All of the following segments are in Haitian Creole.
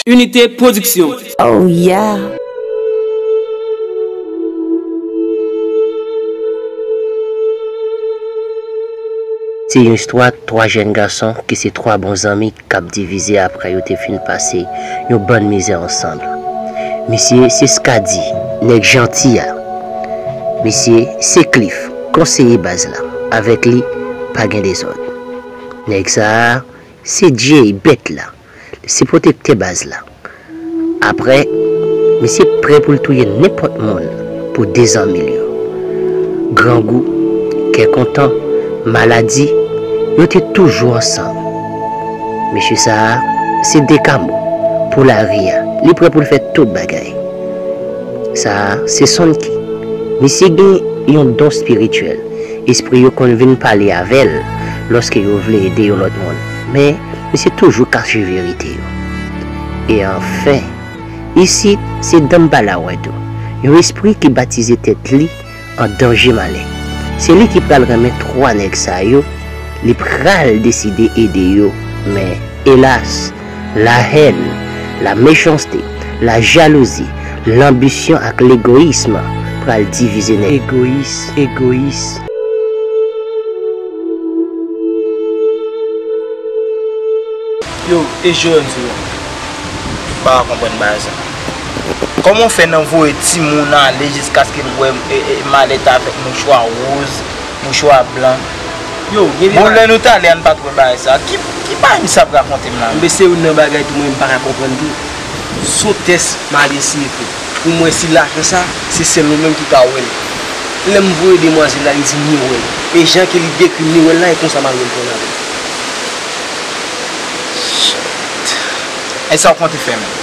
Unité production. Oh yeah! Se yon istwa 3 jèn gason ki se 3 bon zanmi kap divize aprè yo te fin pase yon bann mizè ansanm. Misye se Skady, nèg janti a. Misye se Cliff. Konseye baz la avek li pa gen dezod. Neg sa a se Jay bet la li se protekte baz la. Apre misye pre pou l touye nenpot moun pou 2 zanmi l yo. Grangou, kè kontan, maladi yo te toujou ansanm. Mesye sa a se dekamo pou lari a li pre pou l fe tout bagay. Sa a se Sonky. Misye gen yon don spirityèl. Espri yo konn vin pale avè l lòske yo vle ede yon lòt moun. Men, misye toujou kache verite yo. E anfen, isit se Dambalawèdou, yon espri ki batize tèt li an danje malè se li ki pral renmen 3 nèg sa yo li pral deside ede yo men elas la hèn la mechanste la jalouzi lanbisyon ak legoyism pral divize nèg egoyis egoyis. Yo e jewem sou yo. Mpa konprann bagay sa. Koman w fè nan voye timoun ale jiskaske l wè malèt avèk mouchwa woz, mouchwa blan. Bon lè nou t ale a n pa t wè bagay sa. Ki bagay misye ap rakonte m la menm? Enben se youn nan bagay tou mwen m pa ka konprann tou. Son tès m al eseye fè pou m wè si lajan sa se sèl mwen menm ki ka wè l. Lè m voye demwazèl la li di m li wè l. E jan ke li dekri m li wè l la e konsa m al wè l kò nan men. Shit. E sa w konte fè menm?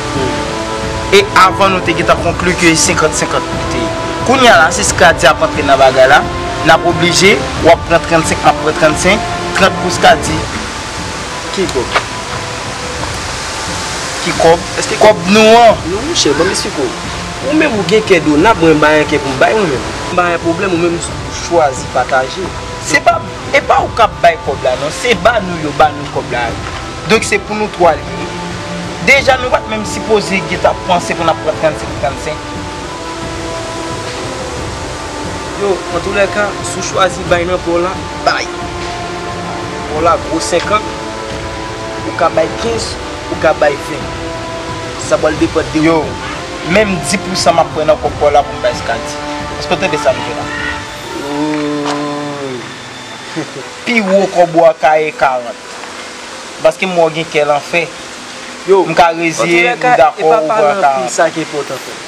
E avan nou te gentan konkli ke e 50 50 pou li te ye. Kounya la si Skady ap antre nan bagay la, nap oblije, wap pran 35 map pran 35, 30 pou Skady, ki kob? ki kob? kob nou an. Non monchè, banm esplike w. Ou menm ou gen kè dona, mwen mpa gen kè poum bay mwen menm. Mpa gen pwoblèm, ou menm ou chwazi pataje. Se pa, epa ou kap bay kob la non, se ba nou yo ba nou kob la. Donk se pou nou 3 li ye. Deja nou pat menm sipoze gen ta panse pou nap pran 35 pou 35. Yo, antoulèka, si w chwazi bay nan pò la, bay. Pò la gwo 50, ou ka bay 15, ou ka bay 20. Sa pral depann de ou. Yo, menm 10 pou san map pran nan kòb pò la pou m bay Skady. Eske w tande sa m di w la? Ooh! Pi wo kòb ou a ka ye 40. Paske m wè w gen kè lanfè. M ka reziye m dakò ou pran 40.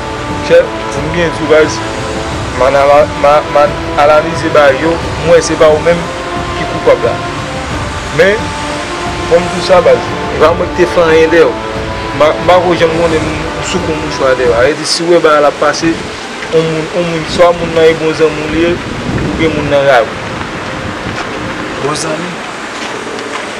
Chef di m byen di w baz. Man analize bagay yo, m wè se pa ou menm ki koupab la. Men, fò m di w sa baz, e pa mwen ki te fè anyen dèyè w. M pa ko janm konnen m sou kou mouchwa dèyè w. A vre di, si w wè bagay la ap pase, on moun, on moun, swa moun nan e bon zanmi w li ye, oubyen moun nan rayi w. Bon zanmi?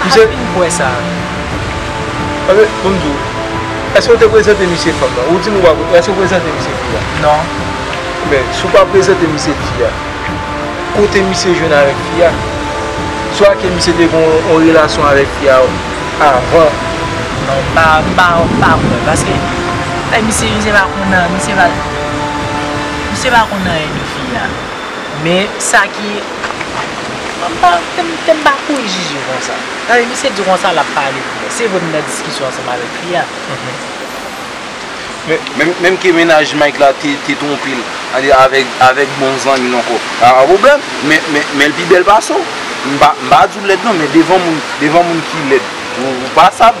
Pa vin bwè sa. Pase pou m di w, èske ou te prezante misye fanm nan? Ou di m ou pa prezante, èske ou prezante misye fi a? Non. Men, si w pa prezante misye fi a, kote misye jwenn avèk fi a? Swa ke misye te gen yon relasyon avèk fi a avan. Non, m pa, m pa, m pa kwè. Paske, lè misye, misye pa konn nan, misye pa, misye pa konn nan anyen de fi a. Men, sa ki. Te m pa kouri jije konsa. Gade misye di konsa l ap pale pou mwen. Se vre m nan diskisyon ansanm avèk fi a. Men menm ke mennaj Mike la te twonpe l avèk bon zanmi l ankò. Sa pa pwoblèm. Men l pi bèl pase w. M pa di w lèd non men devan moun ki lèd ou pa sa.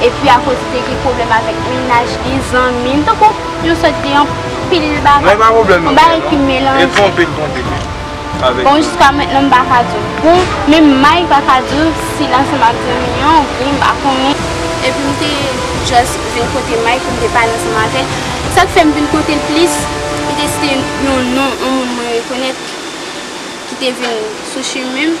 Epi a koz de gen pwoblèm avèk mennaj li, zanmi li, tankou yon sòt de anpil bagay. Mwen pa pwoblèm non mwen non, e twonpe l twonpe m avèk. Bon jiska mentnan m pa ka di w bon, menm Mike pa ka di w si l ansanm ak zanmi an ou byen m pa konnen. Epi m te just vin kote Mike pou m te pale ansanm avè l. Sa k fè m vin kote l plis, m te site yon non yon moun mwen rekonèt ki te vin sou chimen m.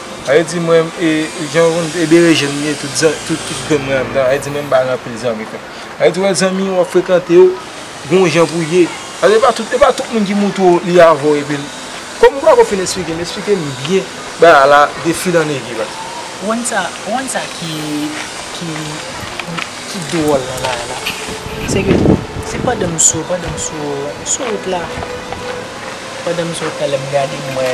Ayo di mwen e jan ou e berejèn li ye tout zan tout tout grenn mwen anndan ayo di mwen m pa gen anpil zanmi frè ayo di wè zanmi wap frekante yo gon jan pou ye ayo e pa tout e pa tout moun ki montre w li avèw epil kòm ou pako fin esplike m esplike m byen bagay a la de fil an egui bat. Ou konn sa ou konn sa ki ki ki dwòl nan bagay la se ke se pandan m sou pandan m sou sou wout la pandan m sou wout la lèm gade m wè.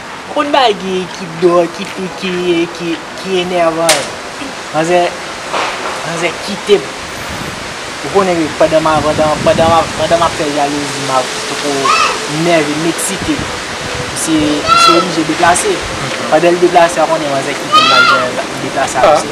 Konn bagy ki do ki tou ki enèvan yo manzè manzè kitem ou konnen wi pandan ma pandan pandan map fè jalouzi ma poko nève m'excite misye misye oblije deplase pandan li deplase a konnen manzè kitem lap deplase avèk se.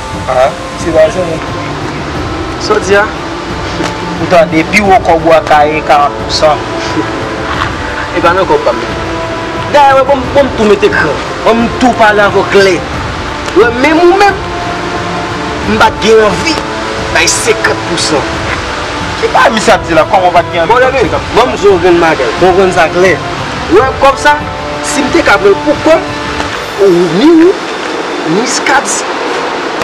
A ti wazo moun ki pi gou yo. Saw di a? Ou tande pi wo kòb ou a kaye 40 pou san. E pa nan kòb pam nan. Dayè wè banm banm tou mete kran. Banm tou pale avèw klè. Wè menm ou menm m pat gen anvi bay 50 pou san. Ki bagay misye ap di la kòman ou pat gen anvi banm 50 pou san. Banm di w yon grenn bagay. Banm konprann sa klè. Wè kòb sa sim te ka pranl pou kòm. Wi wi Muscad's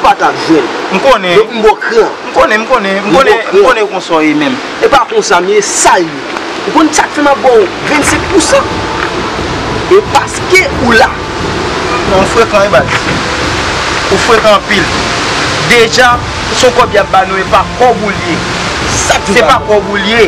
pa tap jwenn. M konnen. Donk m bò kran. M konnen m konnen m konnen m konnen konsa w ye menm. E pa konsa m ye sal ye. Ou konn sak fè map baw 25 pousan? E paske ou la. Non ou frekan wi baz. Ou frekan anpil. Deja son kòb yap ba nou e pa kòb ou l ye. Sak di w pa kòb. Se pa kòb ou l ye.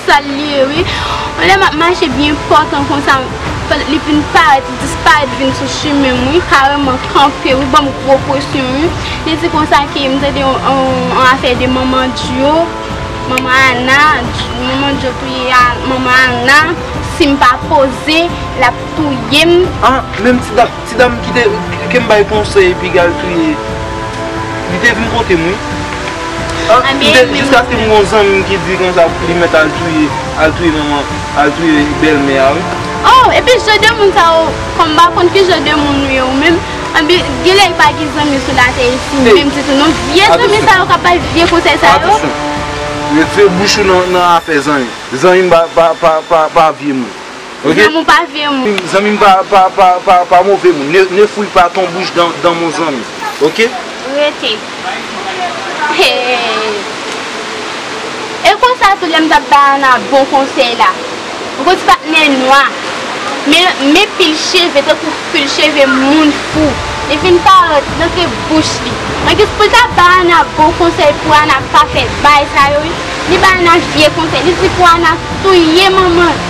Sal ye wi. Yon lè map mache byen fò tan konsa li vin parèt li disparèt vin sou chimenm wi kareman kanpe wi banm gwo presyon wi li di konsa ke m tande yon afè de manman dyo manman ana manman dyo touye manman ana sim pa poze lap touyem. Ah menm ti dat. Ti dam ki te kem bay konsèy pigal touye li te vin kotem wi an jiskaske m gon zanmim ki di konsa li mèt al touye al touye manman al touye bèlmè a wi. Oh epi jan de moun sa yo kòm m pa konn ki jan de moun ou ye ou menm anbyen genlè yo pa gen zanmi sou latè isi menm ditou non vye zanmi sa yo kap bay vye konsèy sa yo. Atisyon retire bouch ou nan afè zanmi zanmi pa vye moun. Ok. Zanmiw pa vye moun. Zanmim pa move moun. Ne fouy pa ton bouch dan mon zanmi. Ok. Rete. Hee. E konsa tou lem tap bay Ana bon konsey la. Ou konn ti pat nez nwa. Men pil cheve tankou pil cheve moun fou. Li fin parèt nan ke bouch li. Nan kis poul ta bay Ana bon konsey pou Ana pa fe bay sa yo wi. Li bay Ana vye konsey. Li di pou Ana touye manman.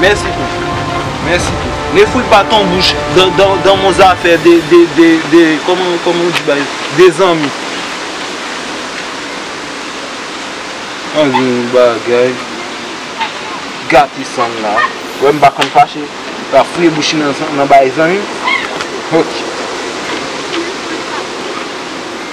Mèsi tou. Mèsi tou. Ne fout pa ton bouch dan mon zafè de de de de kòman kòman ou di bagay de zanmi. An gen yon bagay gate san m la. Ou wè m pa konn fache. M ap fouye bouch m nan bay zanmi. Ok.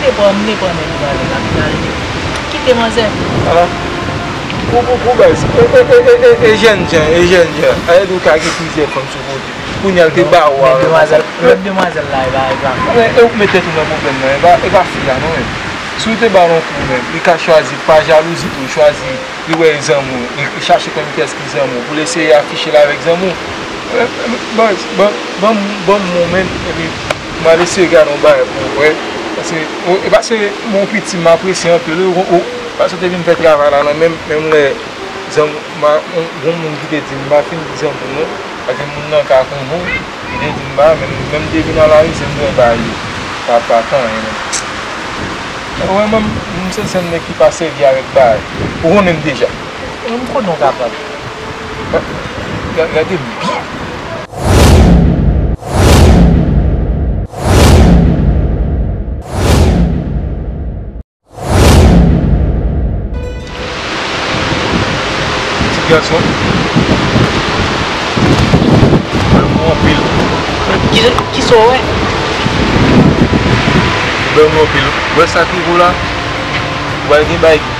Te pran m te pran men li pale la final li kite manzè. Ah ou pou baz e jèn jan e jèn jan ayèd ou ka gen plizyè fanm sou kote kounya l te ba ou a menm demwazèl la epa epa e ou k met tèt ou nan pwoblèm nan epa epa fi a non menm si ou te ba l on kou menm li ka chwazi pa jalouzi tou chwazi li wè e zanmi w li chache konn kiyès ki zanmi w pou l eseye afiche l avèk zanmi w baz banm banm banm m ou menm epi. Mal eseye gade yon bagay pou w wè. Pase e pase bon piti m apresye anpil wi ou pase ou te vin fè travay la nan menm menm lè zanm ma gon moun ki te di m pa fin di zanmi m non pake moun nan ka konnen w li te di m ba menm lè m te vin nan lari se m te bay li pa pa tan an menm ou wè menm m se sèl nèg ki pa sèvi avèk bagay ou konnen m deja. Ou menm konnen w ka pranl. Gade bgy. Ti gason. Bel moun anpil. Kisa w wè. Bel moun anpil. Wè sa ki wou la. Wè gen bgy.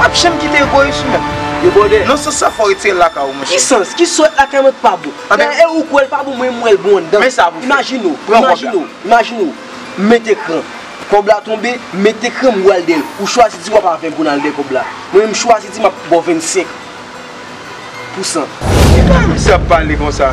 Pap janm kite egoyis ou menm. Debòde. Nan sans sa fòw retirel lakay ou monchè. Ki sans? Ki sòt lakay mwen ki pa bon? Anben. Dayè e ou kwèl pa bon mwen m wèl bon anndan. Men sa pou fè. Imajine ou. Pran kòb la. Imajine ou. M met ekran. Kòb la tonbe, m met ekran m bwal dèyèl. Ou chwazi di wap a 20 goun al dèyè kòb la. Mwen menm m chwazi di map baw 25 pou 100. Ki bagay mesye ap pale konsa?